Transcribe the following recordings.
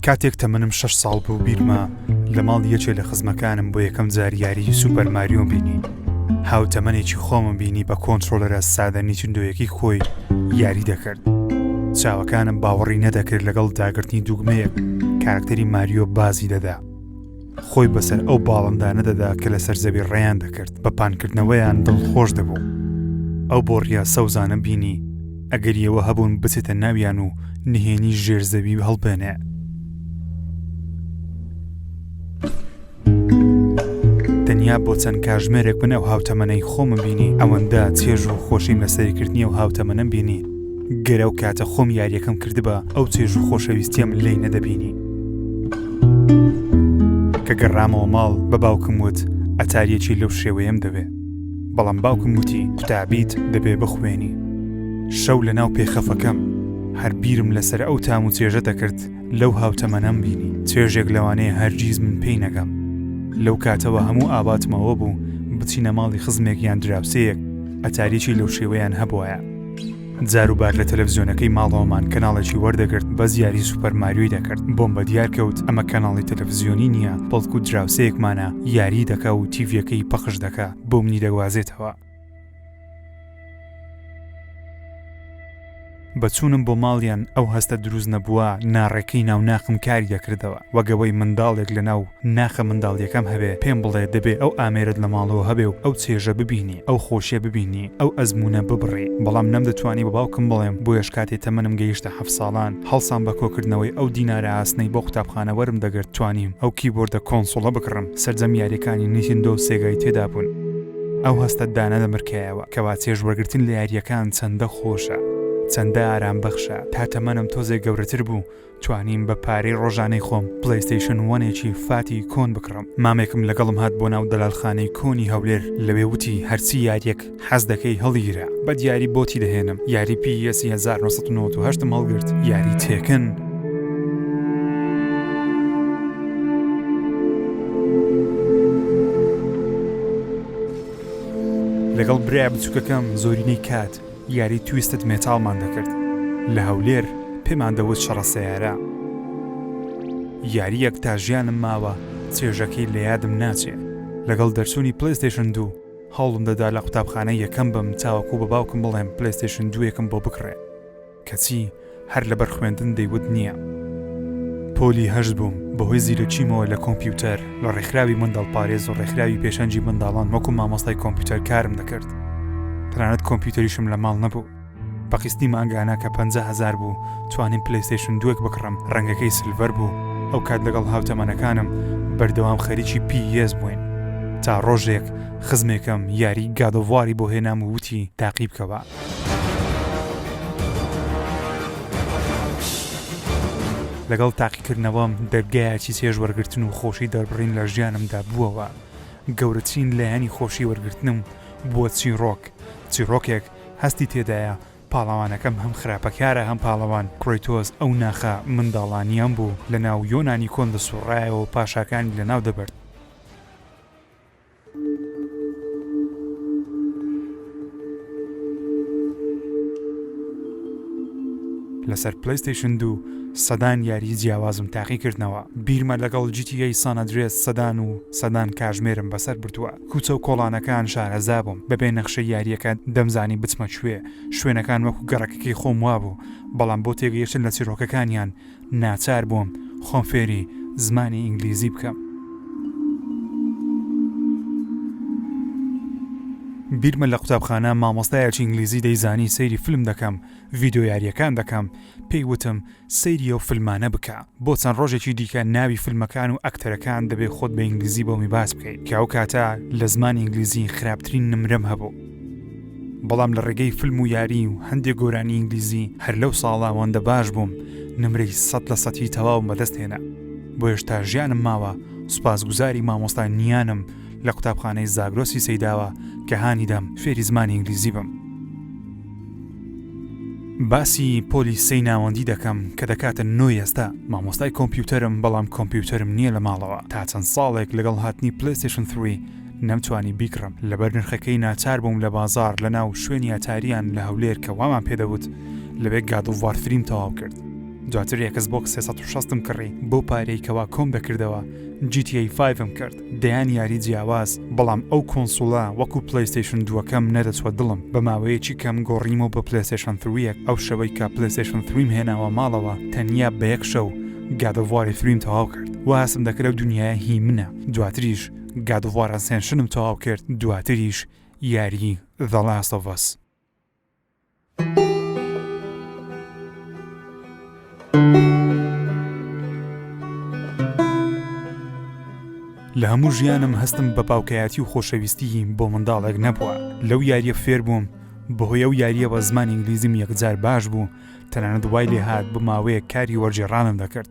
کاتێک تەمەنم شش ساڵ بوو بیرمە لە ماڵ یەکێ لە خزمەکانم بۆ یەکەم زاریاری سوپەرماریۆ بینی هاو تەمەێکی خۆمم بینی بە کۆنتترۆلەرە سادە نیچندۆیەکی خۆی یاری دەکرد چاوەکانم باوەڕی نەدەکرد لەگەڵ داگرتنی دوگمەیەک کارکتەری ماریۆ بازی دەدا خۆی بەسەر ئەو باڵندانە دەدا کە لەسەر زەوی ڕێیان دەکرد بە پانکردنەوەیان دڵ خۆش دەبوو ئەو بۆڕیا سەوزانە بینی ئەگەریەوە هەبوون بچێتە ناویان و نهێنی ژێرزەوی هەڵبێنێ تەنیا بۆ چەند کاژمێرێک من ئەو هاوتەمەەی خۆمە بینی ئەوەندە چێژ و خۆشیم لە سەرکردنی و هاوتەمەەن بینی گەر ئەو کاتە خۆم یاریەکەم کردبا ئەو چێژ و خۆشەویستیم لی نەدەبینی کە گەڕامەوە ماڵ بە باوکم وت ئەتاریەکی لەو شێوەیەم دەوێ بەڵام باوکم وتی قوتابیت دەبێ بخوێنی شەو لە ناو پێخەفەکەم هەر بیرم لەسەر ئەو تام و چێژە دەکرد لەو هاوتەمەنەم بینی چێژێک لەوانەیە هەرگیز من پێی نەگەم لەو کاتەوە هەموو ئاواتمەوە بوو بچینە ماڵی خزمێک یان دراوسەیەک ئەتاریکی لەو شێوەیان هەبواە جاروبار لە تەلەڤزیۆنەکەی ماڵەوەمان کەناڵێکی وەردەگرت بەس یاری سوپەر ماریۆی دەکرد بۆم بە دیار کەوت ئەمە کەناڵی تەلەڤزیۆنی نییە بەڵکو دراوسەیەکمانە یاری دەکا و تیڤەکەی پەخش دەکا بۆ منی دەگوازێتەوە بەچوونم بۆ ماڵیان ئەو هەستە دروست نەبووە ناڕێکەی ناوناخم کاری دەکردەوە وەک ئەوەی منداڵێک لە ناو ناخە منداڵیەکەم هەبێ پێم بڵێ دەبێ ئەو ئامێرەت لە ماڵەوە هەبێ و ئەو چێژە ببینی ئەو خۆشیە ببینی ئەو ئەزمونە ببڕی بەڵام نەمدەتوانی بە باوکم بڵێم بۆیەش کاتێ تەمەنم گەیشتە حەفت ساڵان هەڵسام بە کۆکردنەوەی ئەو دینارە ئاسنەی بۆ قوتابخانە وەرم دەگرت توانیم ئەو کیبۆردە کۆنسوڵە بکڕم سەرجەم یاریەکانی نیتندۆ و سێگای تێدا بوون ئەو هەستەت دانەدەمرکایەوە کەوا چێژ وەرگرتن لە یاریەکان چەندە خۆشە چەندە ئارام بەخشە تا تەمەنم تۆزێک گەورەتر بوو توانیم بە پارەی ڕۆژانەی خۆم پلەیستەیشن وەنێکی فاتی کۆن بکڕم مامێکم لەگەڵم هات بۆ ناو دەلالخانەی کۆنی هەولێر لەوێ وتی هەرچی یاریەک حەز دەکەی هەڵیگرە بە دیاری بۆتی دەهێنم یاری پی یەسی 1998 م هەڵگرت یاری تێکن لەگەڵ برای بچووکەکەم زۆرینەی کات یاری تویستد مێتاڵمان دەکرد لە هەولێر پێمان دەوت شەڕە سەیارە یاریەک تا ژیانم ماوە چێژەکەی لە یادم ناچێ لەگەڵ دەرچوونی پلەیستەیشن دوو هەوڵم دەدا لە قوتابخانە یەکەم بم تاوەکو بە باوکم بڵێم پلەیستەیشن دووێکم بۆ بکڕێ کەچی هەر لەبەر خوێندن دەیوت نییە. پۆلی هەشت بووم، بەهۆی زیرەکیمەوە لە کۆمپیوتەر، لە ڕێکخراوی منداڵپارێز و ڕێکخراوی پێشەنگی منداڵان وەکو مامۆستای کۆمپیوتەر کارم دەکرد. تەنانەت کۆمپیوتەریشم لە ماڵ نەبوو. بە قیستی مانگانە کە پەنجا هەزار بوو، توانیم پلەیستەیشن دووێک بکڕم، ڕەنگەکەی سلڤەر بوو. ئەو کات لەگەڵ هاوتەمەنەکانم بەردەوام خەریکی پی یێس بووین. تا ڕۆژێک خزمێکم یاری گاد ئۆف واری بۆ هێنام و وتی تاقی بکەوە. لەگەڵ تاقیکردنەوەم دەرگایەکی چێژ وەرگتن و خۆشی دەربڕین لە ژیانمدا بووەوە گەورەترین لایەنی خۆشی وەرگتنم بووە چیڕۆک چیڕۆکێک هەستی تێدایە پاڵەوانەکەم هەم خراپەکارە هەم پاڵەوان کرۆیتۆز ئەو ناخە منداڵانیان بوو لە ناو یۆنانی کۆن دەسوڕایەوە پاشاکانی لە ناو دەبرد لەسەر پلیستیشن دوو سەدان یاری جیاوازم تاقی کردنەوە بیرمە لەگەڵ جیتیی سانەدرێت سەدان و سەدان کاژمێرم بەسەر بردووە کوچە و کۆڵانەکان شارەزا بووم بەبێ نەخشە یاریەکە دەمزانی بچمە کوێ شوێنەکان وەکو گەڕەکەکەی خۆم وابوو بەڵام بۆ تێگەیشتن لە چیرۆکەکانیان ناچار بووم خۆم فێری زمانی ئینگلیزی بکەم. بیرمە لە قوتابخانە مامۆستایەکی ئینگلیزی دەیزانی سەیری فلم دەکەم، ڤیدیۆ یارییەکان دەکەم، پێی وتم سەیری ئەو فلمانە بکە، بۆ چەند ڕۆژێکی دیکە ناوی فلمەکان و ئەکتەرەکان دەبێ خۆت بە ئینگلیزی بۆمی باس بکەیت، کە ئەو کاتە لە زمانی ئینگلیزی خراپترین نمرەم هەبوو. بەڵام لە ڕێگەی فلم و یاری و هەندێک گۆرانی ئینگلیزی هەر لەو ساڵا وەندە باش بووم نمرەی سەد لە سەتی تەواو بەدەست هێنا بۆ هێشتا ژیانم ماوە سوپاس گوزاری مامۆستا نیانم لە قوتابخانەی زاگرۆسی سەیداوە کە هانیدام فێری زمانی ئینگلیزی بم باسی پۆلی سەی ناوەندی دەکەم کە دەکاتە نۆ ئێستا مامۆستای کۆمپیوتەرم بەڵام کۆمپیوتەرم نییە لە ماڵەوە تا چەند ساڵێک لەگەڵ هاتنی پلیستشن 3 نەمتوانی بیکڕم لەبەر نرخەکەی ناچار بووم لە بازار لە ناو شوێنی ئەتاریان لە هەولێر کە وامان پێدەوت لەوێ گادۆڤار فریم تەواو کرد دواتر یەکەس بۆک 360 م کڕی بەو پارەی کەوا کۆم دەکردەوە GTA 5 م کرد دەیان یاری جیاواز بەڵام ئەو کۆنسوڵە وەکو پلەیستەیشن دووەکەم نەدەچوە دڵم بە ماوەیەکی کەم گۆڕیمەوە بە پلەیستەیشن 3 ئەو شەوەی کە پلەیستەیشن 3 م هێناوە ماڵەوە تەنیا بە یەک شەو گادۆڤاری فریم تەواو کرد واسم دەکرد ئەو دنیایە هی منە دواتریش گاد ئۆف وار ئەسێنشنم تەواو کرد دواتریش یاری ذە لاست ئۆف ئەس. لە هەموو ژیانم هەستم بە باوکایەتی و خۆشەویستی بۆ منداڵێک نەبووە لەو یاریە فێر بووم بەهۆی ئەو یاریەوە زمان ئینگلیزیم یەکجار باش بوو تەنانەت وای لێ هاات بماوەیە کاری وەرجێڕانم دەکرد.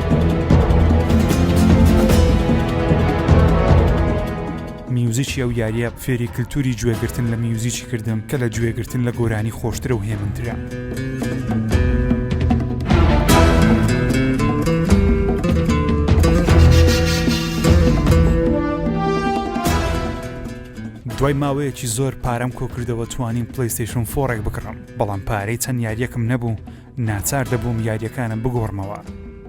میوزیکی ئەو یاریە فێری کللتوری گوێگرتن لە میوزیکی کردم کە لە گوێگرتن لە گۆرانی خۆشترە و هێمنترە. دوای ماوەیەکی زۆر پارەم کۆکردەوە توانیم پلیستشن فۆڕێک بکڕم بەڵام پارەی چەند یاریەکم نەبوو ناچار دەبووم یاریەکانم بگۆڕمەوە.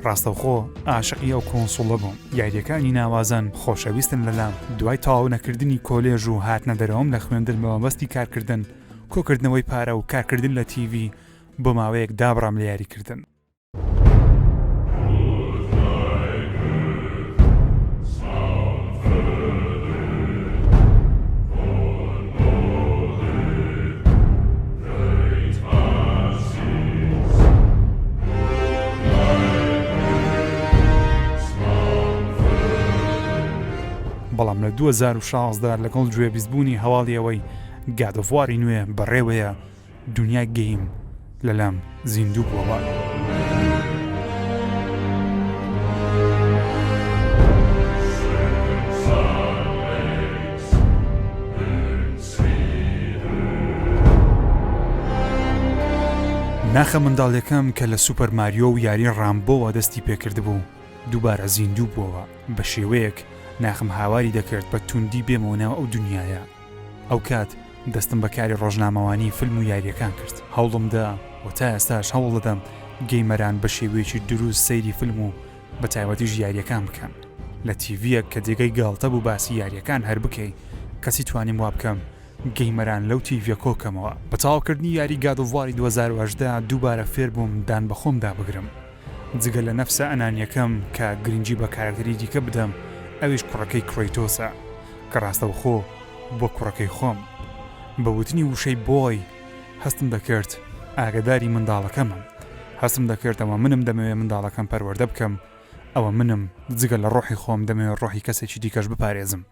ڕاستەوخۆ ئاشقی ئەو کۆنسوڵە بووم یاریەکانی ناوازەن خۆشەویستن لەلام دوای تەواو نەکردنی کۆلێژ و هاتنە دەرەوەم لە خوێندن بە مەبەستی کارکردن کۆکردنەوەی پارە و کارکردن لە تیڤی بۆ ماوەیەک دابڕام لە یاریکردن. بەڵام لە 2016 لەگەڵ گوێبیستبوونی هەواڵی ئەوەی گادۆڤاری نوێ بەڕێوەیە دونیا گەیم لە لام زیندوو بوەوە. ناخە منداڵیەکەم کە لە سوپەر ماریۆ و یاری ڕامبۆوە دەستی پێکردبوو دووبارە زیندوو بوەوە بە شێوەیەک ناخم هاواری دەکرد بە توندی بێمەوە ناو ئەو دونیایە. ئەو کات دەستم بە کاری ڕۆژنامەوانی فیلم و یاریەکان کرد هەوڵم دا و تا ئێستاش هەوڵ دەدەم گەیمەران بە شێوەیەکی دروست سەیری فیلم و بە تایبەتیش یاریەکان بکەن لە تیڤیەک کە جێگەی گاڵتە بوو باسی یاریەکان هەر بکەی کەچی توانیم وا بکەم گەیمەران لەو تیڤیە کۆ کەمەوە. بە تەواو کردنی یاری گاد ئۆف واری دوو هەزار و هەژدە دووبارە فێر بووم دان بە خۆمدا بگرم. جگە لە نەفسە ئەنانیەکەم کە گرنگی بە کارەکتەری دیکە بدەم ئەویش کوڕەکەی کرەیتۆسە کە ڕاستەوخۆ بووە کوڕەکەی خۆم. بە وتنی وشەی Boy هەستم دەکرد ئاگەداری منداڵەکەمم. هەستم دەکرد ئەوە منم دەمەوێ منداڵەکەم پەروەردە بکەم. ئەوە منم جگە لە ڕۆحی خۆم دەمەوێ ڕۆحی کەسێکی دیکەش بپارێزم.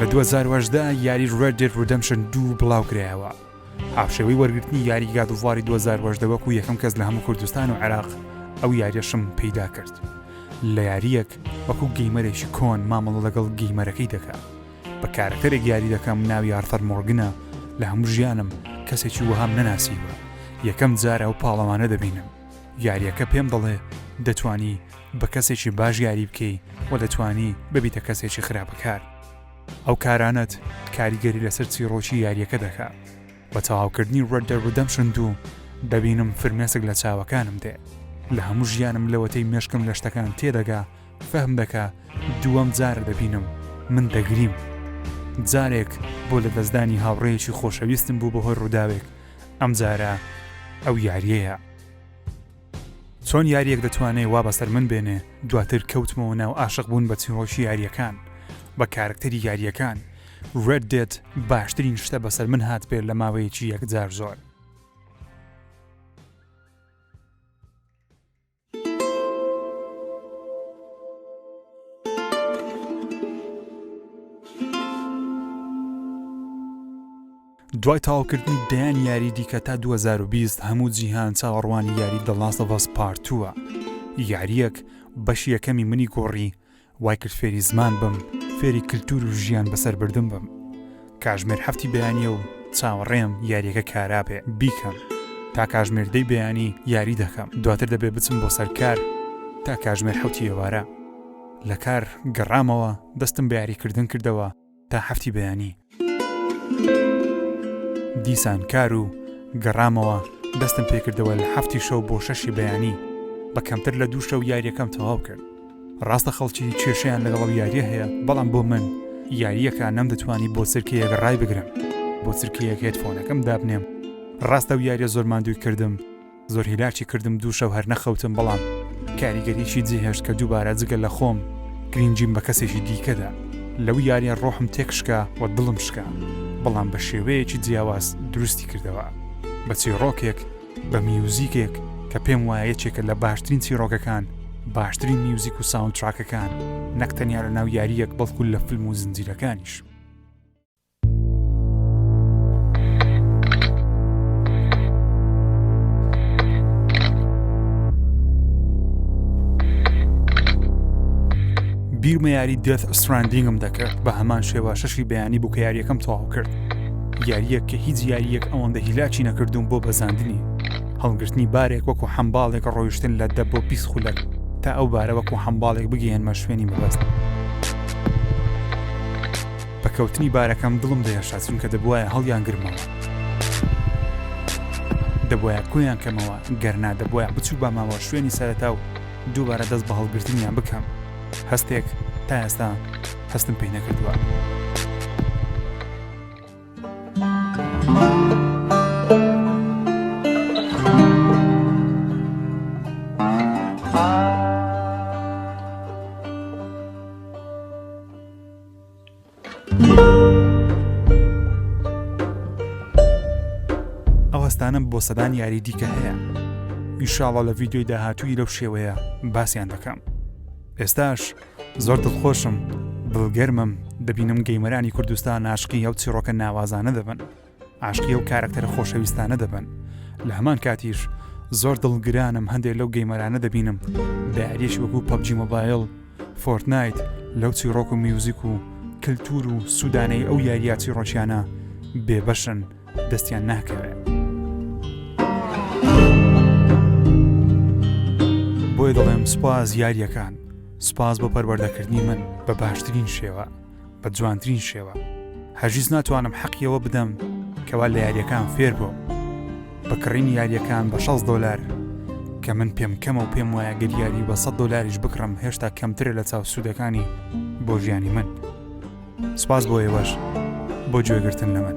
لە 2010 یاری ڕێد دێت ڕدەمشن دوو بڵاوکرایەوە هاوشێوەی وەرگرتنی یاری گادوواری 2010 وەکو یەکەم کەس لە هەموو کوردستان و عێراق ئەو یاریەشم پەیدا کرد لە یاریەک وەکو گەیمەرێکی کۆن مامەڵە لەگەڵ گەیمەرەکەی دەکات بە کارەکتەرێک یاری دەکەم ناوی ئارثەر مۆرگنە لە هەموو ژیانم کەسێکی وەهام نەناسیوە یەکەم جار ئەو پاڵەوانە دەبینم یاریەکە پێم دەڵێ دەتانی بە کەسێکی باش یاری بکەی و دەتانی ببیتە کەسێکی خراپەکار ئەو کارانەت کاریگەری لەسەر چیڕۆکی یاریەکە دەکا بە تەواوکردنی ڕەدە ڕدەمشن دوو دەبینم فرمێسک لە چاوەکانم دێ لە هەموو ژیانم لەوەتەی مێشکم لە شتەکان تێدەگا فەهم دەکە دووەم جارە دەبینم من دەگریم جارێک بۆ لەدەستدانی هاوڕێیەکی خۆشەویستم بوو بەهۆی ڕووداوێک ئەمجارە ئەو یاریەیە چۆن یاریەک دەتوانێ وا بەسەر من بێنێ دواتر کەوتمەوە ناو ئاشق بوون بە چیرۆکی یاریەکان بە کارکتەری یاریەکان ڕێد دێت باشترین شتە بەسەر من هات بێت لە ماوەیەکی یەکجار زۆر دوای تاوکردنی دەیان یاری دیکە تا 2020 هەموو جیهان چاوەڕوانی یاری دەڵاستە بەس پارتووە یاریەک بەش یەکەمی منی گۆڕی وای کرد فێری زمان بم فێری کلتور و ژیان بەسەر بردن بم کاژمێر هەفتی بەیانیە و چاوەڕێم یاریەکە کارابێ بیکەم تا کاژمێر دەی بەیانی یاری دەکەم دواتر دەبێ بچم بۆ سەر کار تا کاژمێر حوتی ئێوارە لە کار گەڕامەوە دەستم بە یاریکردن کردەوە تا حەفتی بەیانی. دیسان کار و گەڕامەوە دەستم پێکردەوە لە حەفتی شەو بۆ شەشی بەیانی بە کەمتر لە دوو شەو یاریەکەم تەواو کرد ڕاستە خەڵکی کێشیان لەگەڵ یاریە هەیە بەڵام بۆ من یاریەکە نەمدەتوانی بۆ سرکەیەک ڕای بگرم بۆ سرکەیەک هێتفۆنەکەم دابنێم ڕاستە و یاریە زۆر ماندووی کردم زۆر هیلاکی کردم دوو شەو هەر نەخەوتم بەڵام کاریگەریی جێهێشت کە دووبارە جگە لە خۆم گرینگیم بە کەسێکی دیکەدا لەو یاریە ڕۆحم تێک شکا و دڵم شکا بەڵام بە شێوەیەکی جیاواز دروستی کردەوە بە چیڕۆکێک بە میوزیکێک کە پێم وایە یەکێکە لە باشترین چیڕۆکەکان باشترین میوزیک و ساوندتراکەکان نەک تەنیا لە ناو یاریەک بەڵکو لە فلم و زنجیرەکانیش بیرمە یاری دێت ئەستراندینگم دەکرد بە هەمان شێوە شەشی بەیانی بوو کە یاریەکەم تەواو کرد یاریەک کە هیچ یاریەک ئەوەندە هیلاچی نەکردوم بۆ بەزاندنی هەڵگرتنی بارێک وەکو حەمباڵێک ڕۆیشتن لە دە بۆ پیس خولەک تا ئەو بارە وەکو حەمباڵێک بگەێنمە شوێنی مەبەست بە کەوتنی بارەکەم دڵم دەهێشا چونکە دەبواە هەڵیان گرمەوە دەبواە کۆیان کەمەوە گەرنا دەبواە بچوو بە ماوە شوێنی سەرەتا و دووبارە دەست بە هەڵگرتنیان بکەم هەستێک تا ئێستا هەستم پێی نەکردووە. ئەوەستانم بۆ سەدان یاری دیکە هەیە ئیشاڵە لە ڤیددیوی داهاتووی لەو شێوەیە باسییان دەکەم ئێستاش زۆر دڵخۆشم دڵگەرمم دەبینم گەیمەرانی کوردستان ناشقی ئەو چیڕۆکە ناوازانە دەبن عاشقی ئەو کارەکتەرە خۆشەویستانە دەبن لە هەمان کاتیش زۆر دڵگرانم هەندێک لەو گەیمەرانە دەبینم بەعریش وەکو پەبجی مۆبایل فۆرتنایت لەو چیڕۆک و میوزیک و کللتور و سوودانەی ئەو یاریاتی ڕۆچیانە بێبەشن دەستیان ناکەوێت بۆی دەڵێم سپاس یاریەکان سپاس بۆ پەروەردەکردنی من بە باشترین شێوە بە جوانترین شێوە هەرگیز ناتوانم حەقی ئەوە بدەم کەوا لە یاریەکان فێر بۆ بە کڕین یاریەکان بە 6 دلار کە من پێم کەمە و پێم وایە گەر یاری بە 100 دلاریش بکڕم هێشتا کەمترە لە چاو سوودەکانی بۆ ژیانی من سپاس بۆ ئێوەش بۆ گوێگرتن لە من.